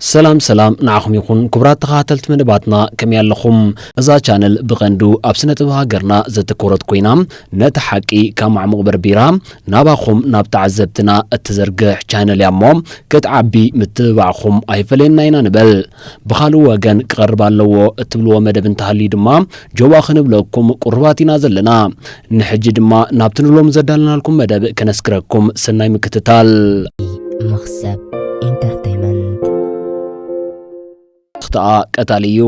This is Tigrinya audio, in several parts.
ሰላም ሰላም ንዓኹም ይኹን ክቡራት ተኸታተልቲ መደባትና ከመይ ኣለኹም? እዛ ቻነል ብቐንዱ ኣብ ስነ ጥበብ ሃገርና ዘተኮረት ኮይና ነቲ ሓቂ ካብ ማዕሙቕ በርቢራ ናባኹም ናብ ተዓዘብትና እትዘርግሕ ቻነል እያ እሞ ክትዓቢ ምትብባዕኹም ኣይፈለየና ኢና ንበል። ብኻልእ ወገን ክቐርብ ኣለዎ እትብልዎ መደብ እንተሃልዩ ድማ ጆባ ክንብለኩም ቁሩባት ኢና ዘለና ንሕጂ ድማ ናብቲ ንሎሚ ዘዳለናልኩም መደብ ከነስግረኩም ሰናይ ምክትታል። መኽሰብ ኢንተርተይመንት ተኽትኣ ቀታሊ እዩ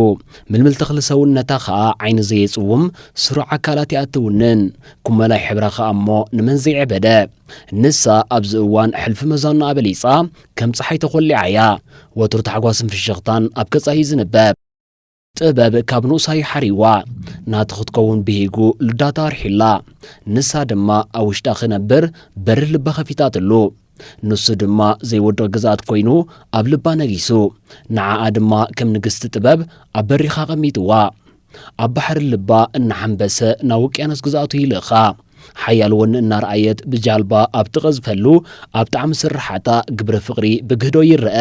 ምልምል ተኽሊ ሰውነታ ኸኣ ዓይኒ ዘየጽውም ስሩዕ ኣካላት እያ እትውንን ኩመላይ ሕብራ ኸኣ እሞ ንመን ዘይዕበደ ንሳ ኣብዚ እዋን ሕልፊ መዛና ኣበሊጻ ከም ፀሓይ ተኾሊዓ እያ ወትሩ ታሕጓስን ፍሽኽታን ኣብ ከጻ እዩ ዝንበብ ጥበብ ካብ ንኡሳዩ ሓሪዋ ናቲ ክትከውን ብሂጉ ልዳታ ኣርሒላ ንሳ ድማ ኣብ ውሽጣ ክነብር በሪ ልባ ከፊታትሉ ንሱ ድማ ዘይወድቕ ግዝኣት ኮይኑ ኣብ ልባ ነጊሱ ንዓኣ ድማ ከም ንግስቲ ጥበብ ኣብ በሪኻ ኣቐሚጥዋ ኣብ ባሕሪ ልባ እናሓንበሰ ናብ ውቅያኖስ ግዝኣቱ ይልእኻ ሓያል ወኒ እናርኣየት ብጃልባ ኣብ ትቐዝፈሉ ኣብ ጣዕሚ ስርሓታ ግብሪ ፍቕሪ ብግህዶ ይረአ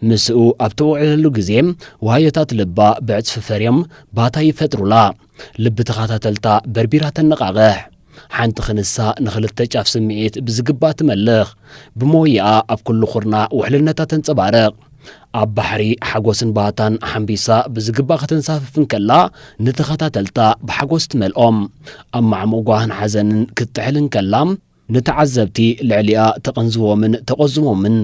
ምስኡ ኣብ ትውዕለሉ ግዜ ዋህዮታት ልባ ብዕጽፊ ፈርዮም ባታ ይፈጥሩላ። ልቢ ተኻታተልታ በርቢራ ተነቓቕሕ። ሓንቲ ክንሳ ንኽልተ ጫፍ ስምዒት ብዝግባእ ትመልኽ። ብሞይኣ ኣብ ኩሉ ኩርናዕ ውሕልነታ ተንጸባርቕ። ኣብ ባሕሪ ሓጎስን ባህታን ሓምቢሳ ብዝግባእ ከተንሳፍፍ እንከላ ንተኻታተልታ ብሓጎስ ትመልኦም። ኣብ ማዕሙቕ ጓህን ሓዘንን ክትጥሕል እንከላ፣ ንተዓዘብቲ ልዕሊኣ ተቐንዝቦምን ተቖዝሞምን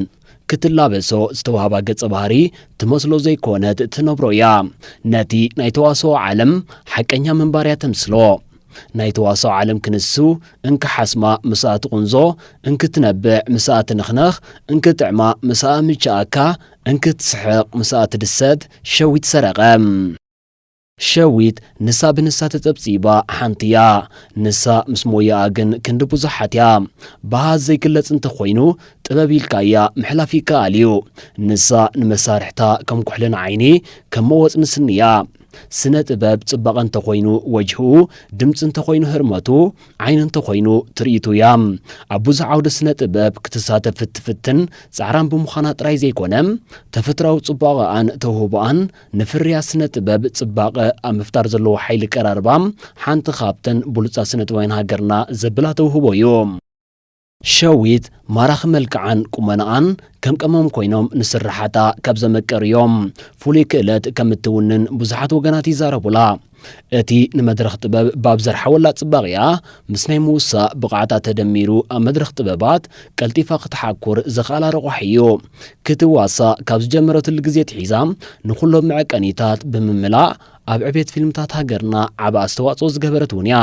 ክትላበሶ ዝተዋህባ ገጸ ባህሪ ትመስሎ ዘይኮነት ትነብሮ እያ። ነቲ ናይ ተዋስኦ ዓለም ሓቀኛ ምንባር እያ ተምስሎ። ናይ ተዋስኦ ዓለም ክንሱ እንክሓስማ ምስኣ ትቑንዞ፣ እንክትነብዕ ምስኣ ትንኽነኽ፣ እንክጥዕማ ምስኣ ምችኣካ፣ እንክትስሕቕ ምስኣ ትድሰት ሸዊት ሰረቐ። ሸዊት ንሳ ብንሳ ተጸብጺባ ሓንቲ እያ ንሳ ምስ ሞያኣ ግን ክንዲ ቡዙሓት እያ ብሃ ዘይግለጽ እንተ ኮይኑ ጥበብ ኢልካ እያ ምሕላፍ ይከኣል እዩ ንሳ ንመሳርሕታ ከም ኩሕሊ ንዓይኒ ከም መወጽኒ ስኒ እያ ስነ ጥበብ ጽባቀ እንተ ኮይኑ ወጅህኡ ድምጺ እንተ ኮይኑ ህርመቱ ዓይኒ እንተ ኮይኑ ትርኢቱ እያ ኣብ ቡዙሕ ዓውደ ስነ ጥበብ ክትሳተፍ እትፍትን ጻዕራም ብምዃና ጥራይ ዘይኮነ ተፈትራዊ ጽቧቀኣን ተውህቦኣን ንፍርያት ስነ ጥበብ ጽባቐ ኣብ ምፍጣር ዘለዎ ሓይሊ ቀራርባ ሓንቲ ካብተን ብሉጻት ስነ ጥበባውያን ሃገርና ዘብላ ተውህቦ እዩ። ሸዊት ማራኺ መልክዓን ቁመናኣን ከም ቀመም ኮይኖም ንስርሓታ ካብ ዘመቀርዮም ፍሉይ ክእለት ከም እትውንን ብዙሓት ወገናት ይዛረቡላ። እቲ ንመድረኽ ጥበብ ባብ ዘርሓወላ ጽባቕ'ያ፣ ምስ ናይ ምውሳእ ብቕዓታ ተደሚሩ ኣብ መድረኽ ጥበባት ቀልጢፋ ክትሓኩር ዘኽኣላ ረቋሒ'ዩ። ክትዋሳእ ካብ ዝጀመረትሉ ግዜ ኣትሒዛ ንኹሎም መዐቀኒታት ብምምላእ ኣብ ዕቤት ፊልምታት ሃገርና ዓቢ ኣስተዋጽኦ ዝገበረት'ውን'ያ።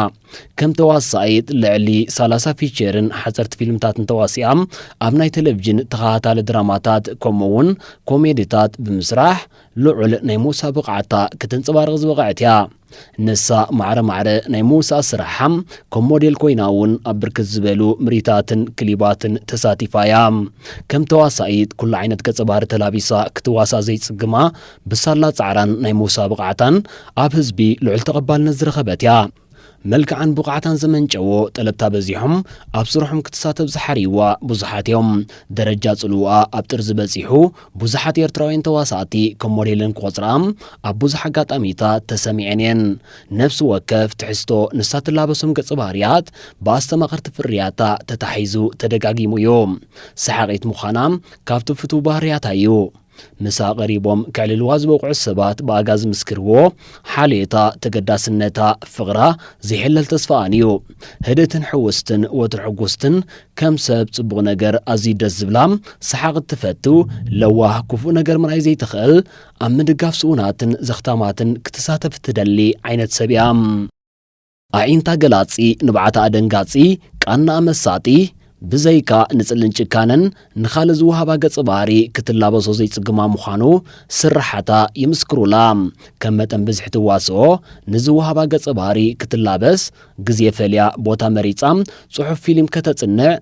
ከም ተዋሳኢት ልዕሊ ሰላሳ ፊቸርን ሓጸርቲ ፊልምታትን ተዋሲኣ ኣብ ናይ ተለቪዥን ተኸታታሊ ድራማታት ከምኡ'ውን ኮሜዲታት ብምስራሕ ልዑል ናይ ምውሳእ ብቕዓታ ክተንጸባርቕ ዝበቐዐት እያ። ንሳ ማዕረ ማዕረ ናይ ምውሳእ ስራሓ ከም ሞዴል ኮይና እውን ኣብ ብርክት ዝበሉ ምርኢታትን ክሊባትን ተሳቲፋ እያ። ከም ተዋሳኢት ኩሉ ዓይነት ገጸ ባህሪ ተላቢሳ ክትዋሳእ ዘይጽግማ ብሳላ ጻዕራን ናይ ምውሳእ ብቕዓታን ኣብ ህዝቢ ልዑል ተቐባልነት ዝረኸበት እያ። መልክዓን ብቕዓታን ዘመንጨዎ ጠለብታ በዚሖም ኣብ ስርሖም ክትሳተፍ ዝሓርይዋ ብዙሓት እዮም። ደረጃ ጽልውኣ ኣብ ጥርዚ በጺሑ ብዙሓት ኤርትራውያን ተዋሳእቲ ከም ሞዴለን ክቖጽርኣ ኣብ ብዙሕ ኣጋጣሚታት ተሰሚዐን እየን። ነፍሲ ወከፍ ትሕዝቶ ንሳ ትላበሶም ገጸ ባህርያት ብኣስተማቐርቲ ፍርያታ ተታሒዙ ተደጋጊሙ እዩ። ሰሓቒት ምዃና ካብቲ ፍቱው ባህርያታ እዩ። ምሳ ቀሪቦም ከዕልልዋ ዝበቕዑ ሰባት ብኣጋ ዝምስክርዎ ሓልዮታ፣ ተገዳስነታ፣ ፍቕራ፣ ዘይሕለል ተስፋኣን እዩ። ህድእትን ሕውስትን፣ ወትሩ ሕጉስትን፣ ከም ሰብ ጽቡቕ ነገር ኣዝዩ ደስ ዝብላ፣ ሰሓቕ እትፈቱ፣ ለዋህ፣ ክፉእ ነገር ምርኣይ ዘይትኽእል፣ ኣብ ምድጋፍ ስኡናትን ዘኽታማትን ክትሳተፍ እትደሊ ዓይነት ሰብ እያ። ኣዒንታ ገላጺ፣ ንብዓታኣ ደንጋጺ፣ ቃናኣ መሳጢ፣ ብዘይካ ንጽልን ጭካነን ንኻልእ ዝወሃባ ገጸ ባህሪ ክትላበሶ ዘይጽግማ ምዃኑ ስርሓታ ይምስክሩላ። ከም መጠን ብዝሒ ትዋስኦ ንዝወሃባ ገጸ ባህሪ ክትላበስ ግዜ ፈልያ ቦታ መሪጻ ጽሑፍ ፊሊም ከተጽንዕ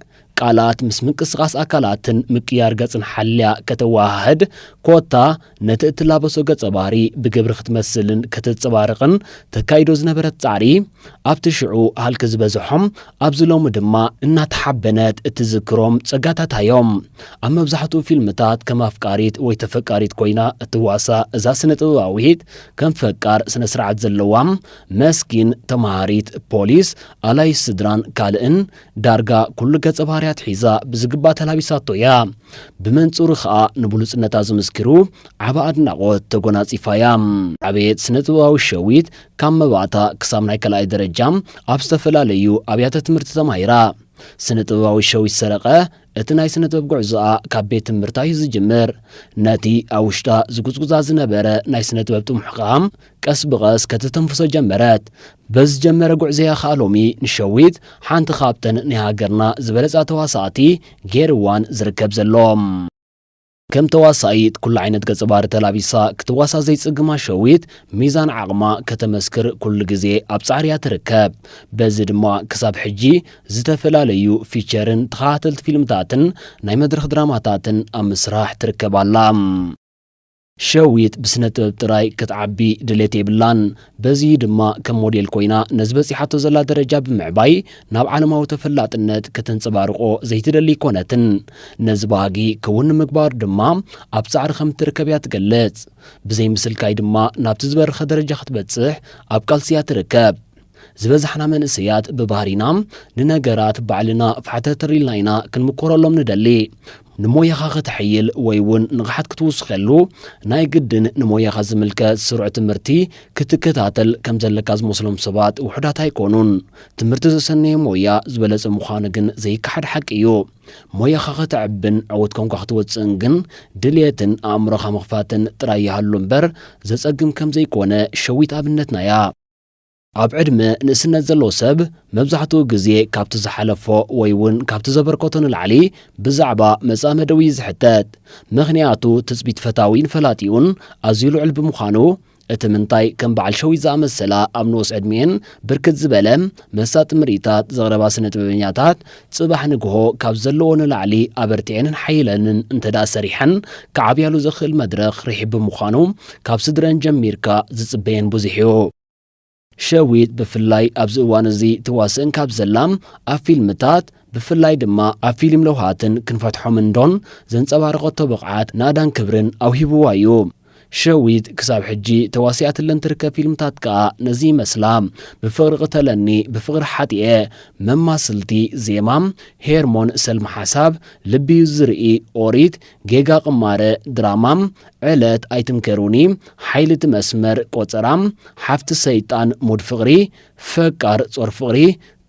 ቃላት ምስ ምንቅስቓስ ኣካላትን ምቅያር ገጽን ሓልያ ከተወሃህድ፣ ኮታ ነቲ እትላበሶ ገጸ ባህሪ ብግብሪ ክትመስልን ከተጸባርቕን ተካይዶ ዝነበረት ጻዕሪ፣ ኣብቲ ሽዑ ሃልኪ ዝበዝሖም፣ ኣብዚ ሎሚ ድማ እናተሓበነት እትዝክሮም ጸጋታታ'ዮም። ኣብ መብዛሕትኡ ፊልምታት ከም ኣፍቃሪት ወይ ተፈቃሪት ኮይና እትዋሳእ እዛ ስነ-ጥበባዊት፣ ከም ፈቃር ስነ-ስርዓት ዘለዋ፣ መስኪን፣ ተመሃሪት፣ ፖሊስ፣ ኣላዪት ስድራን ካልእን፣ ዳርጋ ኩሉ ገጸ ባህርያት ሒዛ ብዝግባ ተላቢሳቶ እያ። ብመንጽሩ ከኣ ንብሉጽነታ ዝምስክሩ ዓቢ ኣድናቖት ተጎናጺፋ እያ። ዕብየት ስነ-ጥበባዊ ሸዊት ካብ መባእታ ክሳብ ናይ ካልኣይ ደረጃ ኣብ ዝተፈላለዩ ኣብያተ ትምህርቲ ተማሂራ። ስነ-ጥበባዊ ሸዊት ሰረቐ እቲ ናይ ስነ-ጥበብ ጉዕዞኣ ካብ ቤት ትምህርታ እዩ ዝጅምር። ነቲ ኣብ ውሽጣ ዝጉጽጉጻ ዝነበረ ናይ ስነ-ጥበብ ጥሙሕ ከኣ ቀስ ብቐስ ከተተንፍሶ ጀመረት። በዚ ዝጀመረ ጉዕዞ'ያ ከኣ ሎሚ ንሸዊት ሓንቲ ካብተን ናይ ሃገርና ዝበለጻ ተዋሳእቲ ገይርዋን ዝርከብ ዘሎ። ከም ተዋሳኢት ኩሉ ዓይነት ገጸ ባህሪ ተላቢሳ ክትዋሳእ ዘይጽግማ ሸዊት፣ ሚዛን ዓቕማ ከተመስክር ኩሉ ግዜ ኣብ ጻዕሪ'ያ ትርከብ። በዚ ድማ ክሳብ ሕጂ ዝተፈላለዩ ፊቸርን ተኸታተልቲ ፊልምታትን ናይ መድረኽ ድራማታትን ኣብ ምስራሕ ትርከብ ኣላ። ሸዊት ብስነ ጥበብ ጥራይ ክትዓቢ ድሌት የብላን። በዚ እዩ ድማ ከም ሞዴል ኮይና ነዚ በጺሓቶ ዘላ ደረጃ ብምዕባይ ናብ ዓለማዊ ተፈላጥነት ከተንጸባርቖ ዘይትደሊ ኣይኮነትን። ነዚ ባህጊ ክውን ንምግባር ድማ ኣብ ጻዕሪ ከም እትርከብ እያ ትገልጽ። ብዘይ ምስልካይ ድማ ናብቲ ዝበረኸ ደረጃ ክትበጽሕ ኣብ ቃልሲ እያ ትርከብ። ዝበዛሕና መንእሰያት ብባህሪና ንነገራት ባዕልና ፋሕተትር ኢልና ኢና ክንምኮረሎም ንደሊ። ንሞያኻ ከተሐይል ወይ እውን ንቕሓት ክትውስኸሉ ናይ ግድን ንሞያኻ ዝምልከ ስሩዕ ትምህርቲ ክትከታተል ከም ዘለካ ዝመስሎም ሰባት ውሑዳት ኣይኮኑን። ትምህርቲ ዘሰነየ ሞያ ዝበለጸ ምዃኑ ግን ዘይከሓድ ሓቂ እዩ። ሞያኻ ከተዕብን ዕውት ኮንካ ክትወጽእን ግን ድልየትን ኣእምሮኻ ምኽፋትን ጥራይ ይሃሉ እምበር ዘጸግም ከም ዘይኮነ ሸዊት ኣብነትና እያ። ኣብ ዕድመ ንእስነት ዘሎ ሰብ መብዛሕትኡ ግዜ ካብቲ ዝሓለፎ ወይ እውን ካብቲ ዘበርከቶ ንላዕሊ ብዛዕባ መጻምድኡ እዩ ዝሕተት። ምኽንያቱ ትጽቢት ፈታዊን ፈላጢኡን ኣዝዩ ልዑል ብምዃኑ። እቲ ምንታይ ከም በዓል ሸዊት ዝኣመሰላ ኣብ ንኡስ ዕድሚኤን ብርክት ዝበለ መሳጢ ምርኢታት ዘቕረባ ስነ-ጥበበኛታት ጽባሕ ንግሆ ካብ ዘለወኦ ንላዕሊ ኣበርቲዔንን ሓዪለንን እንተድኣ ሰሪሐን ክዓብያሉ ዘኽእል መድረኽ ርሒብ ብምዃኑ ካብ ስድረን ጀሚርካ ዝጽበየን ብዙሕ እዩ። ሸዊት ብፍላይ ኣብዚ እዋን እዚ ትዋስእን ካብ ዘላ ኣብ ፊልምታት ብፍላይ ድማ ኣብ ፊልም ለውሃትን ክንፈትሖም እንዶን ዘንጸባረቐቶ ብቕዓት ናእዳን ክብርን ኣውሂብዋ እዩ። ሸዊት ክሳብ ሕጂ ተዋሲኣትለን ትርከብ ፊልምታት ከኣ ነዚ ይመስላ፣ ብፍቕሪ ቅተለኒ፣ ብፍቕሪ ሓጢኤ፣ መማስልቲ፣ ዜማ፣ ሄርሞን፣ ሰልሚ ሓሳብ፣ ልቢ'ዩ ዝርኢ፣ ኦሪት፣ ጌጋ ቅማረ ድራማ ዕለት ኣይትምከሩኒ ሓይሊ እቲ መስመር ቆጸራ ሓፍቲ ሰይጣን ሙድ ፍቅሪ ፈቃር ጾር ፍቅሪ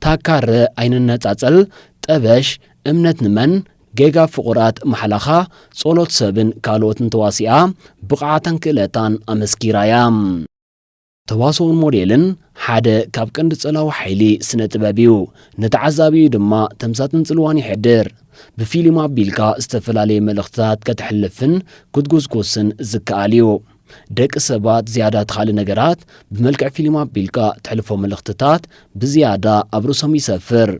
ታካረ ኣይንነጻጸል ጠበሽ እምነት ንመን ጌጋ ፍቁራት ማሕላኻ ጾሎት ሰብን ካልኦትን ተዋሲኣ ብቅዓታን ክእለታን ኣመስኪራ እያ። ተዋስኦን ሞዴልን ሓደ ካብ ቀንዲ ጸላዊ ሓይሊ ስነ ጥበብ እዩ። ንተዓዛቢኡ ድማ ተምሳጥን ጽልዋን የሕድር። ብፊሊም ኣቢልካ ዝተፈላለየ መልእኽትታት ከተሕልፍን ክትጉስጉስን ዝከኣል እዩ። ደቂ ሰባት ዝያዳ ተኻሊ ነገራት ብመልክዕ ፊሊም ኣቢልካ ተሕልፎ መልእኽትታት ብዝያዳ ኣብ ርእሶም ይሰፍር።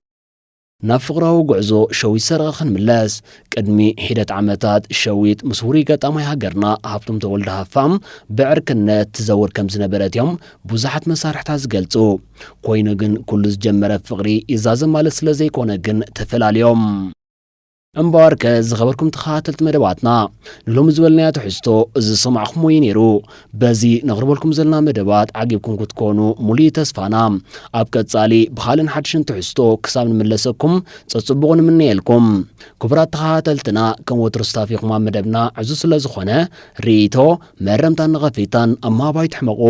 ናብ ፍቕራዊ ጉዕዞ ሸዊት ሰረቐ ክንምለስ። ቅድሚ ሒደት ዓመታት ሸዊት ምስ ውሩይ ገጣማይ ሃገርና ሃብቶም ተወልደ ሃፋም ብዕርክነት ትዘውር ከም ዝነበረት እዮም ብዙሓት መሳርሕታ ዝገልጹ። ኮይኑ ግን ኩሉ ዝጀመረ ፍቕሪ ይዛዘም ማለት ስለ ዘይኮነ ግን ተፈላልዮም። እምበኣርከ ዝኸበርኩም ተኸታተልቲ መደባትና ንሎሚ ዝበልናዮ ትሕዝቶ እዚ ዝሰማዕኹምዎ እዩ ነይሩ። በዚ ነቕርበልኩም ዘለና መደባት ዓጊብኩም ክትኮኑ ሙሉእ እዩ ተስፋና። ኣብ ቀጻሊ ብኻልእን ሓድሽን ትሕዝቶ ክሳብ ንምለሰኩም ጸጽቡቑ ንምነየልኩም። ክቡራት ተኸታተልትና ከም ወትሩ ስታፊኹም ኣብ መደብና ዕዙዝ ስለ ዝኾነ ርኢቶ፣ መእረምታን ነቐፌታን ኣብ ምሃብ ኣይትሕመቑ።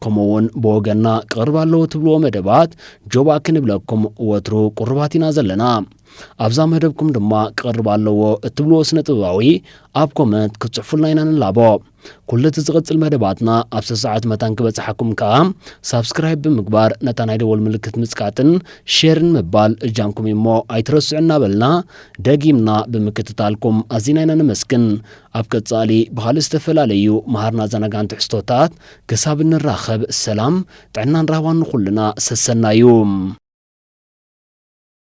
ከምኡ ውን ብወገንና ክቕርብ ኣለዎ ትብልዎ መደባት ጆባእ ክንብለኩም ወትሩ ቁሩባት ኢና ዘለና። ኣብዛ መደብኩም ድማ ክቐርብ ኣለዎ እትብልዎ ስነ ጥበባዊ ኣብ ኮመንት ክትጽሕፉልና ኢና ንላቦ። ኩሉ እቲ ዝቕጽል መደባትና ኣብ ሰሰዓት መታን ክበጽሓኩም ከኣ ሳብስክራይብ ብምግባር ነታ ናይ ደወል ምልክት ምጽቃጥን ሼርን ምባል እጃምኩም እዩ እሞ ኣይትረስዑ እናበልና ደጊምና ብምክትታልኩም ኣዚና ኢና ነመስግን። ኣብ ቀጻሊ ብኻልእ ዝተፈላለዩ መሃርን ኣዘናጋዕን ትሕዝቶታት ክሳብ እንራኸብ ሰላም ጥዕናን ራህዋን ንኹልና ሰሰናዩ።